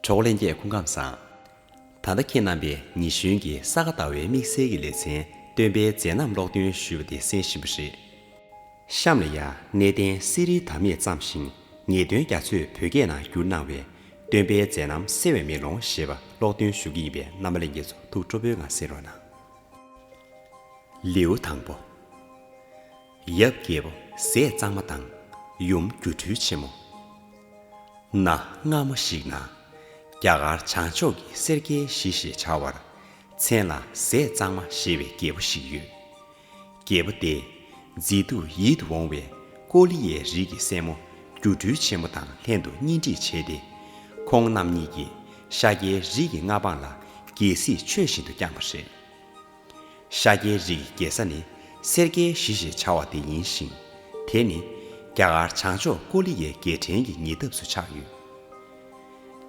གྲོགས་པོ་ལན་རྒྱས་སྐུ་ཁམས་བཟང། ད་ལྟ་ཁྱེད་རྣམ་པས་ཉི་གཞོན་གྱི་ས་ག་ཟླ་བའི་དམིགས་བསལ་གྱི་ལེ་ཚན་སྟོན་པའི་མཛད་རྣམ་ཀློག་འདོན་ཞུས་པ་དེ་གསན་བཞིན་པ་རེད། གཤམ་ལ་ཡང་གནས་བརྟན་གསེར་རིའི་དར་མས་བརྩམས་ཤིང་ངེས་དོན་རྒྱ་མཚོས་བོད་སྐད་ནང་བསྒྱུར་གནང་བའི། སྟོན་པའི་མཛད་རྣམ་གསལ་བའི་མེ་ལོང་ཞེས་པ་ཀློག་འདོན་ཞུ་གི་ཡིན་པས་རྣམ་པ་ལན་རྒྱས་ཚོ་ཐུགས་སྤྲོ་པོའི་ངང་གསན་རོགས་གནང། ལེའུ་དང་པོ། ཡབ་རྒྱལ་པོ་ཟས་གཙང་མ་དང་ཡུམ་སྒྱུ་འཕྲུལ་ཆེན་མོ། གནའ་སྔ་མོ་ཞིག་ན། རྒྱ་གར་བྱང་ཕྱོགས་ཀྱི་སེར་སྐྱའི་གཞི་ཞེས་བྱ་བར། མཚན་ལ་ཟས་གཙང་མ་ཞེས་པའི་རྒྱལ་པོ་ཞིག་ཡོད། རྒྱལ་པོ་དེས་མཛེས་སྡུག་ཡིད་དུ་འོང་བའི་ཀོ་ལི་ཡའི་རིགས་ཀྱི་སྲས་མོ་སྒྱུ་འཕྲུལ་ཆེན་མོ་དང་ལྷན་དུ་གཉེན་སྒྲིག་བྱས་ཏེ། ཁོང་རྣམ་གཉིས་ཀྱིས་ཤཱཀྱའི་རིགས་ཀྱི་མངའ་འབངས་ལ་རྒྱལ་སྲིད་ཆོས་བཞིན་དུ་བསྐྱངས་པ་རེད། ཤཱཀྱའི་རིགས་ཀྱི་རྒྱལ་ས་ནི་སེར་སྐྱའི་གཞི་ཞེས་བྱ་བ་དེ་ཡིན་ཞིང། དེ་ནི་རྒྱ་གར་བྱང་ཕྱོགས་ཀོ་ལི་ཡའི་རྒྱལ་ཕྲན་གྱི་ཉེ་འདབས་སུ་ཆགས་ཡོད།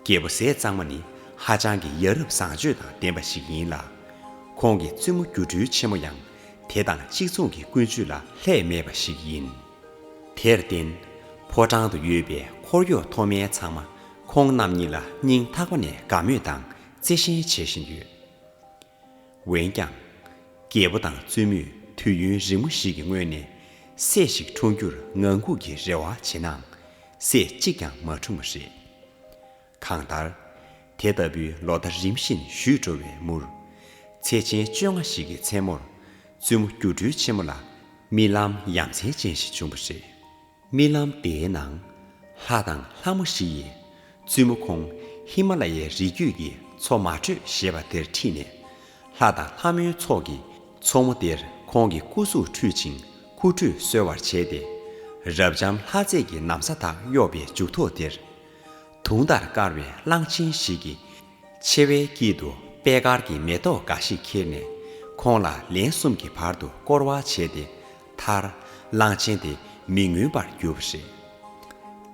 རྒྱལ་པོ་ཟས་གཙང་མ་ནི་ཧ་ཅང་གི་ཡ་རབས་བཟང་སྤྱོད་དང་ལྡན་པ་ཞིག་ཡིན་ལ། ཁོང་གི་བཙུན་མོ་སྒྱུ་འཕྲུལ་ཆེན་མོ་ཡང་དེ་དང་གཅིག་མཚུངས་ཀྱི་ཀུན་སྤྱོད་ལ་ལྷད་མེད་པ་ཞིག་ཡིན། དེར་བརྟེན། ཕོ་བྲང་དུ་ཡོད་པའི་འཁོར་གཡོག་མཐོ་དམན་ཚང་མ་ཁོང་རྣམ་གཉིས་ལ་སྙིང་ཐག་པ་ནས་དགའ་མོས་དང་བརྩེ་ཞེན་བྱེད་བཞིན་ཡོད། འོན་ཀྱང། རྒྱལ་པོ་དང་བཙུན་མོས་དུས་ཡུན་རིང་མོ་ཞིག་གི་སྔོན་ནས། སྲས་ཤིག་འཁྲུངས་རྒྱུར་ངང་སྒུག་གི་རེ་བ་བྱེད་ནའང། སྲས་གཅིག་ཀྱང་མ་འཁྲུངས་པ་རེད། གང་ལྟར། དེ་ལྟ་བུའི་ལོ་ཟླ་རིམ་བཞིན་བཞུད་འགྲོ་བའི་མུར། ཚེས་ཆེན་བཅོ་ལྔ་ཞིག་གི་མཚན་མོར། བཙུན་མོ་སྒྱུ་འཕྲུལ་ཆེན་མོ་ལ་རྨི་ལམ་ཡ་མཚན་ཅན་ཞིག་བྱུང་བ་རེད། རྨི་ལམ་དེའི་ནང། ལྷ་དང་ལྷ་མོ་བཞི་ཡིས་བཙུན་མོ་ཁོང་ཧི་མ་ལ་ཡའི་རི་རྒྱུད་ཀྱི་མཚོ་མ་དྲོས་ཞེས་པ་དེར་ཁྲིད་ནས། ལྷ་དང་ལྷ་མོའི་ཚོགས་ཀྱིས་མཚོ་མོ་དེར་ཁོང་གི་སྐུ་གཟུགས་ཁྲུས་ཅིང་ཁུ་ཁྲུས་གསོལ་བར་བྱས་ཏེ། རབ་འབྱམས་ལྷ་རྫས་ཀྱི་ནམ་ས་དག་གཡོགས་པའི་མཇུག་ཐོག་དེར། དུང་ལྟར་དཀར་བའི་གླང་ཆེན་ཞིག་གིས་མཆེ་བའི་དཀྱིལ་དུ་པད་དཀར་གྱི་མེ་ཏོག་འགའ་ཞིག་ཁྱེར་ནས། ཁོང་ལ་ལན་གསུམ་གྱི་བར་དུ་བསྐོར་བ་བྱས་ཏེ། མཐར། གླང་ཆེན་དེ་མི་ངུས་པར་གྱུར་པ་རེད།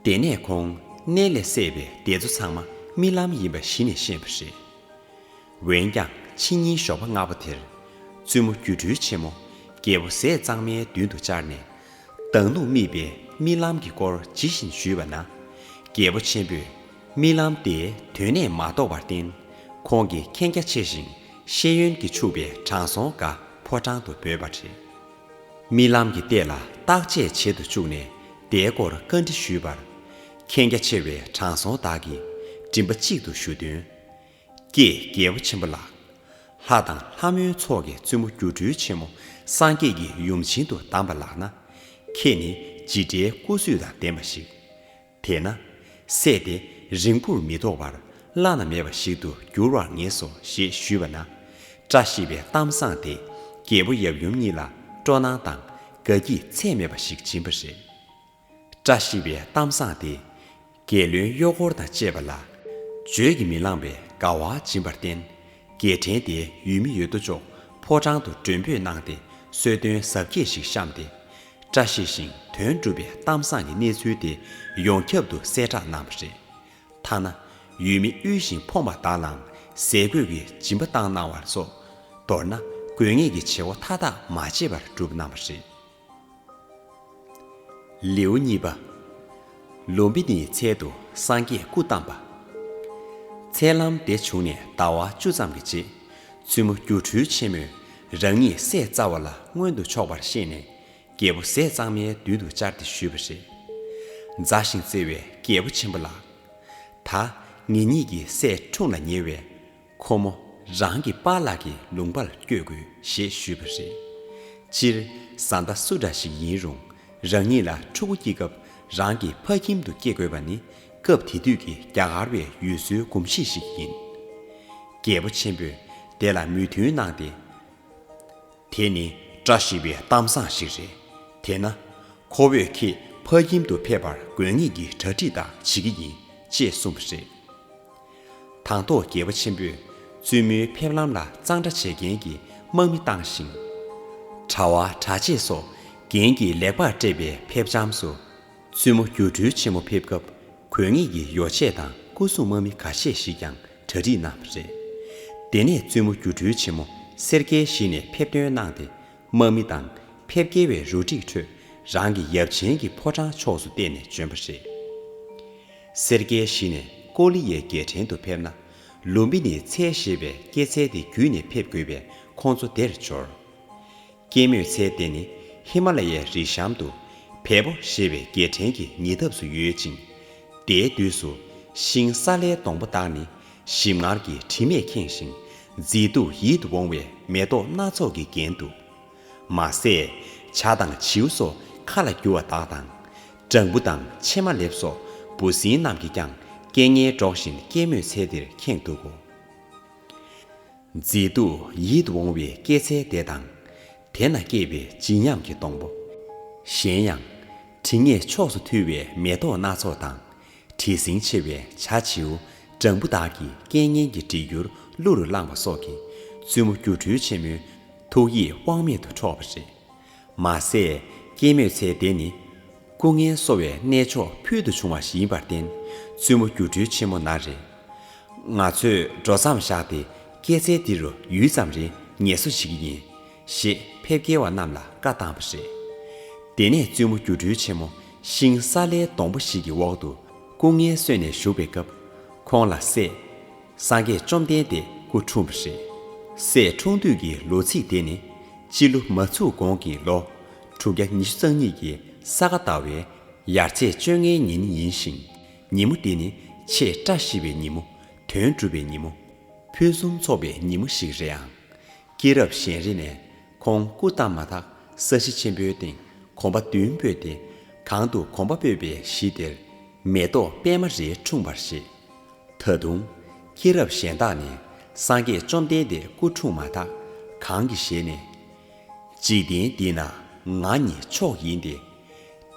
དེ་ནས་ཁོང་གནས་ལས་སད་པའི་སྡེ་ཚོ་ཚང་མ་རྨི་ལམ་ཡིན་པ་གཞི་ནས་ཤེས་པ་རེད། འོན་ཀྱང་ཕྱི་ཉིན་ཞོགས་པ་སྔ་པོ་དེར། བཙུན་མོ་སྒྱུ་འཕྲུལ་ཆེན་མོ་རྒྱལ་པོ་ཟས་གཙང་མའི་མདུན་དུ་བཅར་ནས། མདང་ལུག་རྨིས་པའི་རྨི་ལམ་གྱི་སྐོར་ཇི་བཞིན་ཞུས་པ་ན། རྒྱལ་པོ་ཆེན་པོས་རྨི་ལམ་དེ་དོན་གནས་མ་རྟོགས་པར་བརྟེན། ཁོང་གིས་མཁྱེན་རྒྱ་ཆེ་ཞིང་ཤེས་ཡོན་གྱིས་ཕྱུག་པའི་དྲང་སྲོང་འགའ་ཕོ་བྲང་དུ་འབོད་པ་རེད། རྨི་ལམ་གྱི་ལྟས་ལ་བརྟག་དཔྱད་བྱེད་དུ་བཅུག་ནས་དེའི་སྐོར་བཀའ་འདྲི་ཞུས་པར། མཁྱེན་རྒྱ་ཆེ་བའི་དྲང་སྲོང་དག་གིས་མགྲིན་པ་གཅིག་ཏུ་ཞུ་དོན། ཀྱེ་རྒྱལ་པོ་ཆེན་པོ་ལགས། ལྷ་དང་ལྷ་མོའི་ཚོགས་ཀྱི་བཙུན་མོ་སྒྱུ་འཕྲུལ་ཆེན་མོ་སངས་རྒྱས་ཀྱི་ཡུམ་བྱིན་དུ་གདམས་པ་ལགས་ན། ཁྱེད་ནི་ཇི་འདྲའི་སྐུ་བསུས་དང་ལྡན་པ་ཞིག། དེས་ན། བསད་དེ་རིང་པོར་མི་ཐོགས་པར་བླ་ན་མེད་པ་ཞིག་ཏུ་འགྱུར་བར་ངེས་སོ་ཞེས་ཞུས་པ་ན། བཀྲ་ཤིས་པའི་གཏམ་བཟང་དེས་རྒྱལ་པོ་ཡབ་ཡུམ་གཉིས་ལ་སྤྲོ་སྣང་དང་དགའ་སྐྱིད་ཚད་མེད་པ་ཞིག་སྦྱིན་པ་རེད། བཀྲ་ཤིས་པའི་གཏམ་བཟང་དེས་རྒྱལ་བློན་གཡོག་འཁོར་དང་བཅས་པ་ལ། བརྗོད་ཀྱིས་མི་ལངས་པའི་དགའ་བ་སྦྱིན་པར་བརྟེན། རྒྱལ་ཕྲན་དེའི་ཡུལ་མི་ཡོད་དོ་ཅོག་ཕོ་བྲང་དུ་མགྲོན་འབོད་གནང་སྟེ་གསོལ་སྟོན་གཟབ་རྒྱས་ཤིག་བཤམས་ཏེ། བཀྲ་ཤིས་ཤིང་དོན་འགྲུབ་པའི་གཏམ་བཟང་གི་གནས་ཚུལ་དེ་ཡོངས་ཁྱབ་ཏུ་གསལ་བསྒྲགས་གནང་བ་རེད། ཐ་ན་ཡུལ་མི་དབུལ་ཞིང་ཕོངས་པ་དག་ལའང་ཟས་གོས་ཀྱི་སྦྱིན་པ་བཏང་གནང་བ་སོགས་མདོར་ན་དགོས་ངེས་ཀྱི་བྱེད་སྒོ་མཐའ་དག་མ་བརྗེད་པར་བསྒྲུབས་གནང་བ་རེད། ལེའུ་གཉིས་པ། ལུམ་བི་ནིའི་ཚལ་དུ་སངས་རྒྱས་སྐུ་བལྟམས་པ། མཚལ་ལམ་འདི་བྱུང་ནས་ཟླ་བ་བཅུ་ཙམ་གྱི་རྗེས། བཙུན་མོ་སྒྱུ་འཕྲུལ་ཆེན་མོས་རང་ཉིད་ཟས་བཙའ་བ་ལ་མངོན་དུ་ཕྱོགས་པར་ཤེས་ནས་རྒྱལ་པོ་ཟས་གཙང་མའི་མདུན་དུ་བཅར་ཏེ་ཞུས་པ། རེས་འཛའ་ཞིང་བརྩེ་བའི་རྒྱལ་པོ་ཆེན་པོ་ལགས། ད་ངེད་གཉིས་ཀྱི་ཟས་འཁྲུངས་ལ་ཉེ་བས། ཁོ་མོ་རང་གི་པཱ་ལགས་ཀྱི་ལུང་པར་བསྐྱོད་དགོས་ཞེས་ཞུས་པ། རེད་སྤྱིར་བཟའ་ཟླ་སུ་འདྲ་ཞིག་ཡིན་རུང་རང་ཉིད་ལ་ཕྲུ་གུ་སྐྱེ་སྐབས་རང་གི་ཕ་ཁྱིམ་དུ་སྐྱེ་དགོས་པ་ནི་སྐབས་དེ་དུས་ཀྱི་རྒྱ་གར་བའི་ཡུལ་སྲོལ་གོམས་གཤིས་ཤིག་ཡིན། རྒྱལ་པོ་ཆེན་པོས་དེ་ལ་མོས་མཐུན་གནང་སྟེ། དེ་ནི་བཀྲ་ཤིས་པའི་གཏམ་བཟང་ཞིག་རེད། དེས་ན། ཁོ་བོས་ཁྱེད་ཕ་ཁྱིམ་དུ་ཕེབས་པར་དགོས་ངེས་ཀྱི་གྲ་སྒྲིག་དག་བྱེད་ཀྱི་ཡིན་ཅེས་གསུངས་པ་རེད། དང་ཐོག་རྒྱལ་པོ་ཆེན་པོས་བཙུན་མོའི་ཕེབས་ལམ་ལ་གཙང་སྦྲ་བྱེད་མཁན་གྱི་དམག་མི་བཏང་ཞིང། གྲྭ་བ་གྲྭ་ཆས་སོགས་རྒྱན་གྱིས་ལེགས་པར་སྤྲས་པའི་ཕེབས་བྱམས་སུ། བཙུན་མོ་སྒྱུ་འཕྲུལ་ཆེན་མོ་ཕེབས་སྐབས་གོས་ངེས་ཀྱི་ཡོ་བྱད་དང་སྐུ་སྲུང་དམག་མི་ཁ་ཤས་ཤིག་ཀྱང་གྲ་སྒྲིག་གནང་བ་རེད། དེ་ནས་བཙུན་མོ་སྒྱུ་འཕྲུལ་ཆེན་མོ་སེར་སྐྱའི་གཞི་ནས་ཕེབས་ཐོན་གནང་སྟེ་དམག་མི་དང་ཕེབས་སྐྱེལ་བའི་རུ་སྒྲིག་ཁྲོད་རང་གི་ཡབ་ཆེན་གྱི་ཕོ་བྲང་ཕྱོགས་སུ་བལྟས་ནས་བྱོན་པ་རེད། སེར་སྐྱའི་གཞི་ནས་ཀོ་ལི་ཡའི་རྒྱལ་ཕྲན་དུ་ཕེབས་ན་ལུམ་བི་ནི་ཚལ་ཞེས་པའི་སྐྱེད་ཚལ་དེ་བརྒྱུད་ནས་ཕེབས་དགོས་པས་ཁོང་ཚོ་དེར་འབྱོར། སྐྱེད་མོས་ཚལ་དེ་ནི་ཧི་མ་ལ་ཡའི་རི་གཤམ་དུ། བལ་པོ་ཞེས་པའི་རྒྱལ་ཕྲན་གྱི་ཉེ་འདབས་སུ་ཡོད་ཅིང། དེའི་དུས་སུ། ཤིང་སཱ་ལའི་སྡོང་པོ་དག་ནི་ཞིམ་མངར་གྱི་དྲི་མས་ཁེངས་ཤིང། མཛེས་སྡུག་ཡིད་དུ་འོང་བའི་མེ་ཏོག་སྣ་ཚོགས་ཀྱིས་བརྒྱན་འདུག། མ་ཟད། བྱ་དང་བྱིའུ་སོགས་ཁ་ལ་རྒྱུ་བ་དག་དང། སྦྲང་བུ་དང་ཕྱེ་མ་ལེབ་སོགས་འབུ་སྲིན་རྣམས་ཀྱིས་ཀྱང་སྐད་ངན་སྒྲོག་བཞིན་སྐྱེད་མོས་ཚལ་འདིར་ཁེངས་འདུག་གོ། མཛེས་སྡུག་ཡིད་འོང་བའི་སྐྱེད་ཚལ་བདེ་དང། དེ་ན་སྐྱེས་པའི་བརྗིད་ཉམས་ཀྱི་སྡོང་པོ། གཞན་ཡང། དྲི་ངད་ཕྱོགས་སུ་འཐུལ་བའི་མེ་ཏོག་སྣ་ཚོགས་དང། དྲི་ཟིང་ཆེ་བའི་བྱ་བྱིའུ་སྦྲང་བུ་དག་གིས་སྐད་སྙན་གྱི་བྲིས་འགྱུར་གླུ་རུ་བླངས་པ་སོགས་ཀྱིས་བཙུན་མོ་སྒྱུ་འཕྲུལ་ཆེན་མོའི་ཐུགས་ཡིད་དབང་མེད་དུ་འཕྲོག་པ་རེད། མ་ཟད་སྐྱེད་མོས་ཚལ་དེ་ནི། སྐུ་ངལ་གསོ་བའི་གནས་མཆོག་ཕུལ་དུ་བྱུང་བ་ཞིག་ཡིན་པར་བརྟེན་བཙུན་མོ་སྒྱུ་འཕྲུལ་ཆེན་མོ་ན་རེ། ང་ཚོས་འགྲོ་མཚམས་བཞག་སྟེ་སྐྱེད་ཚལ་འདི་རུ་ཡུད་ཙམ་རེ་ཉལ་གསོ་བྱེད་ཀྱི་ཡིན། ཞེས་ཕེབས་སྐྱེལ་བ་རྣམས་ལ་བཀའ་བཏང་བ་རེད། དེ་ནས་བཙུན་མོ་སྒྱུ་འཕྲུལ་ཆེན་མོ་ཤིང་སཱ་ལའི་སྡོང་པོ་ཞིག་གི་འོག་ཏུ་སྐུ་ངལ་གསོས་ནས་བཞུགས་པའི་སྐབས། ཁོང་ལ་སྲས། སངས་རྒྱས་བཅོམ་ལྡན་འདས་སྐུ་འཁྲུངས་པ་རེད། སྲས་འཁྲུངས་དུས་ཀྱི་ལོ་ཚིགས་དེ་ནི། སྤྱི་ལོ་མ་ཚུགས་གོང་གི་ལོ་དྲུག་བརྒྱ་ཉི་ཤུ་རྩ་གཉིས་ཀྱི་ས་ག་ཟླ་བའི་ཡར་ཚེས་བཅོ་ལྔའི་ཉིན་ཡིན་ཞིང། ཉིན་མོ་འདི་ནི་ཆེས་བཀྲ་ཤིས་པའི་ཉིན་མོ། དོན་འགྲུབ་པའི་ཉིན་མོ། ཕུན་སུམ་ཚོགས་པའི་ཉིན་མོ་ཞིག་རེད་ཨང། སྐྱེས་རབས་གཞན་རིགས་ནས་ཁོང་སྐུ་བལྟམས་མ་ཐག་ས་གཞི་ཆེན་པོའི་སྟེང་གོམ་པ་བདུན་སྤོས་ཏེ། གང་དུ་གོམ་པ་སྤོས་པའི་གཞི་དེར། མེ་ཏོག་པད་མ་རེ་འཁྲུངས་པར་བཞེད། ད་དུང། སྐྱེས་རབས་གཞན་དག་ནས་སངས་རྒྱས་བཅོམ་ལྡན་འདས་སྐུ་འཁྲུངས་མ་ཐག་གང་གི་ཞལ་ནས། འཇིག་རྟེན་འདི་ན་ང་ཉིད་མཆོག་ཡིན་ཏེ།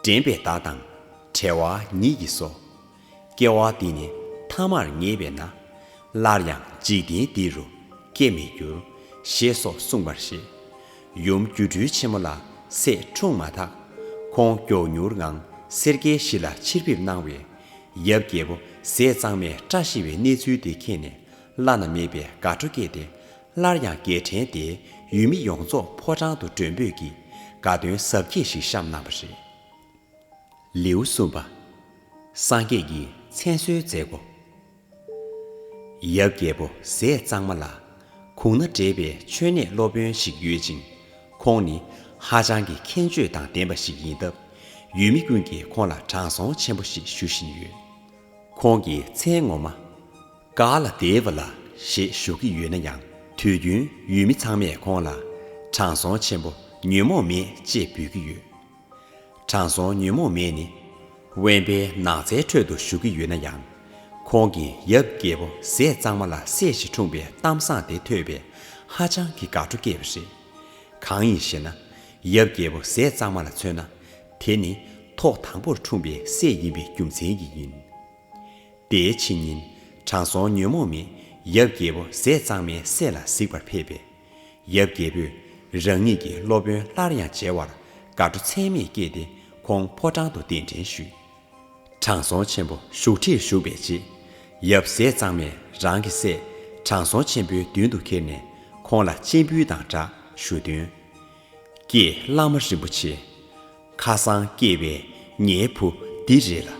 དྲན་པའི་བདག་དང་བྲལ་བ་ཉིད་ཀྱིས་སོ། སྐྱེ་བ་འདི་ནི་ཐ་མར་ངེས་པས་ན། སླར་ཡང་འཇིག་རྟེན་འདི་རུ་སྐྱེ་མི་འགྱུར། ཞེས་སོགས་གསུངས་པར་བཞེད། ཡུམ་སྒྱུ་འཕྲུལ་ཆེན་མོ་ལ་སྲས་འཁྲུངས་མ་ཐག། ཁོང་མགྱོགས་མྱུར་ངང་སེར་སྐྱའི་གཞི་ལ་ཕྱིར་ཕེབས་གནང་བས། ཡབ་རྒྱལ་པོ་ཟས་གཙང་མས་སྐྲ་ཤི་བའི་གནས་ཚུལ་དེ་མཁྱེན་ནས་བླ་ན་མེད་པའི་དགའ་སྤྲོ་སྐྱེས་ཏེ། སླར་ཡང་རྒྱལ་ཕྲན་དེས་ཡུལ་མི་ཡོངས་རྫོགས་ཕོ་བྲང་དུ་མགྲོན་འབོད་ཀྱིས་དགའ་སྟོན་གཟབ་རྒྱས་ཤིག་བཤམས་གནང་བ་རེད། ལེའུ་གསུམ་པ། སངས་རྒྱས་ཀྱི་མཚན་གསོལ་མཛད་སྒོ། ཡབ་རྒྱལ་པོ་ཟས་གཙང་མ་ལགས། གུང་ན་འདྲེས་པའི་མཆོད་གནས་སློབ་དཔོན་ཞིག་ཡོད་ཅིང། ཁོང་ནི་ཧ་ཅང་གི་མཁྱེན་དཔྱོད་དང་ལྡན་པ་ཞིག་ཡིན་སྟབས། ཡུལ་མི་ཀུན་གྱིས་ཁོང་ལ་དྲང་སྲོང་ཆེན་པོ་ཞེས་ཞུ་བཞིན་ཡོད། ཁོང་གི་མཚན་ངོ་མ། ཀ་ལ་དེ་བ་ལ་ཞེས་ཞུ་གི་ཡོད་ན་ཡང་དུས་རྒྱུན་ཡུལ་མི་ཚང་མས་ཁོང་ལ། དྲང་སྲོང་ཆེན་པོ་ཉོན་མོངས་མེད་ཅེས་འབོད་ཀྱི་ཡོད། དྲང་སྲོང་ཉོན་མོངས་མེད་ནི། དབེན་པའི་ནགས་ཚལ་ཁྲོད་དུ་བཞུགས་ཀྱི་ཡོད་ན་ཡང། ཁོང་གིས་ཡབ་རྒྱལ་པོ་ཟས་གཙང་མ་ལ་སྲས་ཤིག་འཁྲུངས་པའི་གཏམ་བཟང་དེ་ཐོས་པས་ཧ་ཅང་གི་དགའ་སྤྲོ་སྐྱེས་པ་རེད། གང་ཡིན་ཞེ་ན། ཡབ་རྒྱལ་པོ་ཟས་གཙང་མ་ལ་མཚོན་ན། དེ་ནི་ཐོག་དང་པོར་འཁྲུངས་པའི་སྲས་ཡིན་པའི་རྒྱུ་མཚན་གྱིས་ཡིན། དེའི་ཕྱི་ཉིན། དྲང་སྲོང་ཉོན་མོངས་མེད་ཡབ་རྒྱལ་པོ་ཟས་གཙང་མའི་སྲས་ལ་གཟིགས་པར་ཕེབས་པས། ཡབ་རྒྱལ་པོས་རང་ཉིད་ཀྱི་སློབ་དཔོན་སླར་ཡང་མཇལ་བར་དགའ་སྤྲོ་ཚད་མེད་སྐྱེས་ཏེ་ཁོང་ཕོ་བྲང་དུ་གདན་འདྲེན་ཞུས། དྲང་སྲོང་ཆེན་པོ་བཞུགས་ཁྲིར་བཞུགས་པའི་རྗེས། ཡབ་སྲས་གཙང་མས་རང་གི་སྲས་དྲང་སྲོང་ཆེན་པོའི་མདུན་དུ་ཁྱེར་ནས་ཁོང་ལ་སྤྱན་འབུལ་དང་སྦྲགས་ཞུ་དོན། ཀྱེ་བླ་མ་རིན་པོ་ཆེ། ཁ་སང་སྐྱེས་པའི་ངའི་བུ་འདི་རེད་ལ།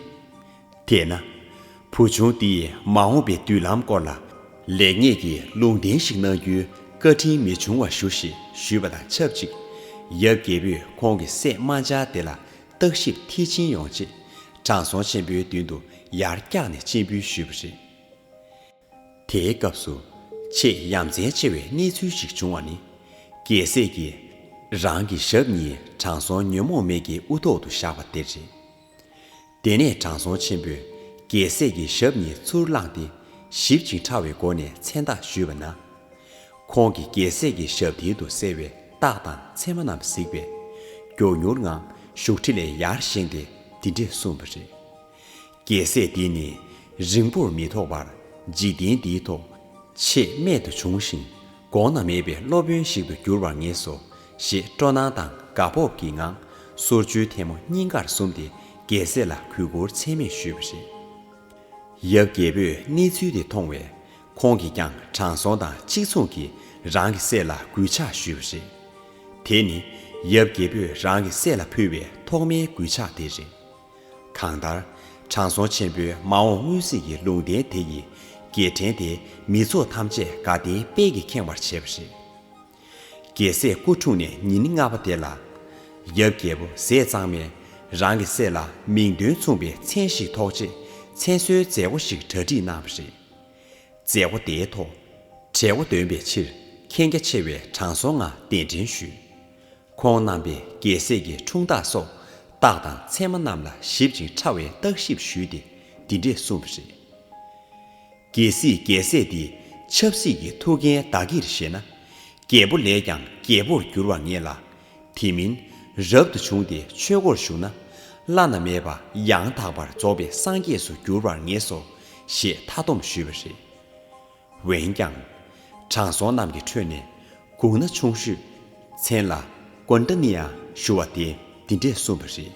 དེས་ན། བུ་ཆུང་འདིས་མ་འོངས་པའི་མདུན་ལམ་སྐོར་ལ། ལེགས་ཉེས་ཀྱི་ལུང་བསྟན་ཞིག་གནང་རྒྱུའི་བཀའ་དྲིན་མི་འབྱུང་བ་ཞུ་ཞེས་ཞུས་པ་དང་ཆབས་ཅིག་ཡབ་རྒྱལ་པོས་ཁོང་གི་སྲས་རྨ་བྱ་དེ་ལ་བརྟག་ཞིབ་མཐིལ་ཕྱིན་ཡོང་ཆེད་དྲང་སྲོང་ཆེན་པོའི་མདུན་དུ་ཡར་བཀྱགས་ནས་སྤྱན་འབུལ་ཞུས་པ་རེད། དེའི་སྐབས་སུ་ཆེས་ཡ་མཚན་ཆེ་བའི་གནས་ཚུལ་ཞིག་བྱུང་བ་ནི། རྒྱལ་སྲས་ཀྱིས་རང་གི་ཞབས་གཉིས་དྲང་སྲོང་ཉོན་མོངས་མེད་ཀྱི་དབུ་ཐོག་ཏུ་བཞག་པ་དེ་རེད། དེ་ནས་དྲང་སྲོང་ཆེན་པོས་རྒྱལ་སྲས་ཀྱི་ཞབས་གཉིས་ཚུར་བླངས་ཏེ་ཞིབ་ཅིང་ཕྲ་བའི་སྒོ་ནས་མཚན་རྟགས་ཞུས་པ་ན། ཁོང་གིས་རྒྱལ་སྲས་ཀྱི་ཞབས་མཐིལ་དུ་གསལ་བའི་རྟགས་དང་མཚན་མ་རྣམས་གཟིགས་པས། མགྱོགས་མྱུར་ངང་བཞུགས་ཁྲི་ལས་ཡར་བཞེངས་ཏེ་འདི་འདྲས་གསུངས་པ་རེད། རྒྱལ་སྲས་འདི་ནི་རིང་པོར་མི་ཐོགས་པར་འཇིག་རྟེན་འདིའི་ཐོག་ཆེས་རྨད་དུ་བྱུང་ཞིང་གོང་ན་མེད་པའི་སློབ་དཔོན་ཞིག་ཏུ་གྱུར་བར་ངེས་སོ་ཞེས་སྤྲོ་སྣང་དང་དགའ་སྤོབས་ཀྱི་ངང་སོར་བཅུའི་ཐལ་མོ་སྙིང་གར་ཟུམ་སྟེ་རྒྱལ་སྲས་ལ་གུས་བཀུར་ཚད་མེད་ཞུས་པ་རེད། ཡབ་རྒྱལ་པོས་གནས་ཚུལ་དེ་མཐོང་བས་ཁོང་གིས་ཀྱང་དྲང་སྲོང་དང་གཅིག་མཚུངས་ཀྱིས་རང་གི་སྲས་ལ་གུས་ཕྱག་ཞུས་པ་རེད། དེ་ནི་ཡབ་རྒྱལ་པོས་རང་གི་སྲས་ལ་ཕུལ་བའི་ཐོག་མའི་གུས་ཕྱག་དེ་རེད། གང་ལྟར། དྲང་སྲོང་ཆེན་པོའི་མ་འོངས་སྔོན་གཟིགས་ཀྱི་ལུང་བསྟན་དེ་ཡི་རྒྱལ་ཕྲན་དེ་མི་ཚོགས་ཐམས་ཅད་དགའ་ལྡན་དཔལ་གྱིས་ཁེངས་བར་བྱས་པ་རེད། རྒྱལ་སྲས་སྐུ་འཁྲུངས་ནས་ཉིན་ལྔ་པ་དེ་ལ། ཡབ་རྒྱལ་པོ་ཟས་གཙང་མས་རང་གི་སྲས་ལ་མིང་དོན་མཚུངས་པའི་མཚན་ཞིག་ཐོགས་རྗེས་མཚན་གསོལ་མཛད་སྒོ་ཞིག་གྲ་སྒྲིག་གནང་བ་རེད། མཛད་སྒོ་དེའི་ཐོག། གྲལ་མགོ་འདོན་པའི་ཕྱིར་མཁྱེན་རྒྱ་ཆེ་བའི་དྲང་སྲོང་ལྔ་གདན་འདྲེན་ཞུས། ཁོང་རྣམ་པས་རྒྱལ་སྲས་ཀྱི་འཁྲུངས་རྟགས་སོགས་རྟགས་དང་མཚན་མ་རྣམས་ལ་ཞིབ་ཅིང་ཕྲ་བའི་བརྟག་ཞིབ་ཞུས་ཏེ་འདི་འདྲས་གསུངས་པ་རེད། རྒྱལ་སྲིད་རྒྱལ་སྲས་འདི་ཆབ་སྲིད་ཀྱི་ཐུགས་འགན་བདག་གིར་བཞེས་ན། རྒྱལ་པོ་ལས་ཀྱང་རྒྱལ་པོར་འགྱུར་བར་ངེས་ལ། དེ་མིན་རབ་ཏུ་བྱུང་སྟེ་ཆོས་སྒོར་ཞུགས་ན། བླ་ན་མེད་པ་ཡང་དག་པར་རྫོགས་པའི་སངས་རྒྱས་སུ་འགྱུར་བར་ངེས་སོ་ཞེས་མཐའ་སྡོམ་ཞུས་པ་རེད། འོན་ཀྱང། དྲང་སྲོང་རྣམས་ཀྱི་ཁྲོད་ནས། གུང་ན་ཆུང་ཤོས། མཚན་ལ། ཀོན་ཏཱ་ནི་ཡང་ཞུ་བ་དེས་འདི་འདྲས་གསུངས་པ་རེད།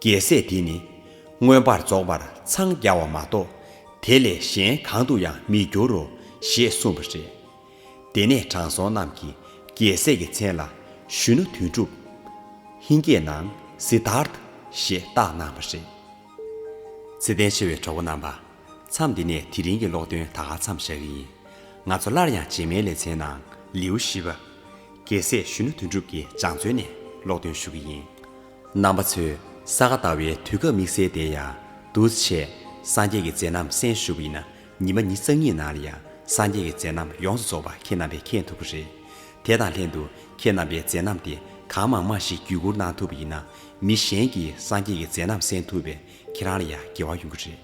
རྒྱལ་སྲས་དེ་ནི། མངོན་པར་རྫོགས་པར་འཚང་རྒྱ་བ་མ་གཏོགས། དེ་ལས་གཞན་གང་དུ་ཡང་མི་འགྱུར་རོ། ཞེས་གསུངས་པ་རེད། དེ་ནས་དྲང་སྲོང་རྣམས་ཀྱིས་རྒྱལ་སྲས་ཀྱི་མཚན་ལ། ཞུ་ན་དོན་གྲུབ། ཧིན་སྐད་ནང། Siddharth། ཞེས་བཏགས་གནང་བ་རེད། ཚེ་ལྡན་ཆེ་བའི་གྲོགས་པོ་རྣམ་པ། མཚམས་འདི་ནས་དེ་རིང་གི་ཀློག་འདོན་ད་ག་མཚམས་བཞག་གི་ཡིན། ང་ཚོ་སླར་ཡང་རྗེས་མའི་ལེ་ཚན་ནང་ལེའུ་བཞི་པ། རྒྱལ་སྲས་གཞོན་ནུ་དོན་གྲུབ་ཀྱི་སྦྱངས་བརྩོན་ནས་ཀློག་འདོན་ཞུ་གི་ཡིན། རྣམ་པ་ཚོས་ས་ག་ཟླ་བའི་དུས་སྐབས་དམིགས་བསལ་བདེ་ཡག། འདུས་བྱས། སངས་རྒྱས་ཀྱི་མཛད་རྣམ་གསན་ཞུ་གི་ཡིན་ན་ཉིན་པ་ཉིས་རྩ་གཉིས་ནང་ལ་ཡང་སངས་རྒྱས་ཀྱི་མཛད་རྣམ་ཡོངས་སུ་རྫོགས་པ་ཁྱེད་རྣམ་པས་མཁྱེན་ཐུབ་ཀྱི་རེད། དེ་དང་ལྷན་དུ་ཁྱེད་རྣམ་པའི་མཛད་རྣམ་དེ་གང་མང་མང་ཞིག་བརྒྱུད་བསྐུར་གནང་ཐུབ་པ་ཡིན་ན་མི་གཞན་གྱིས་སངས་རྒྱས་ཀྱི་མཛད་རྣམ་གསན་ཐུབ་པས་ཁྱེད་རང་ལ་ཡང་དགེ་བ་ཡོང་གི་རེད།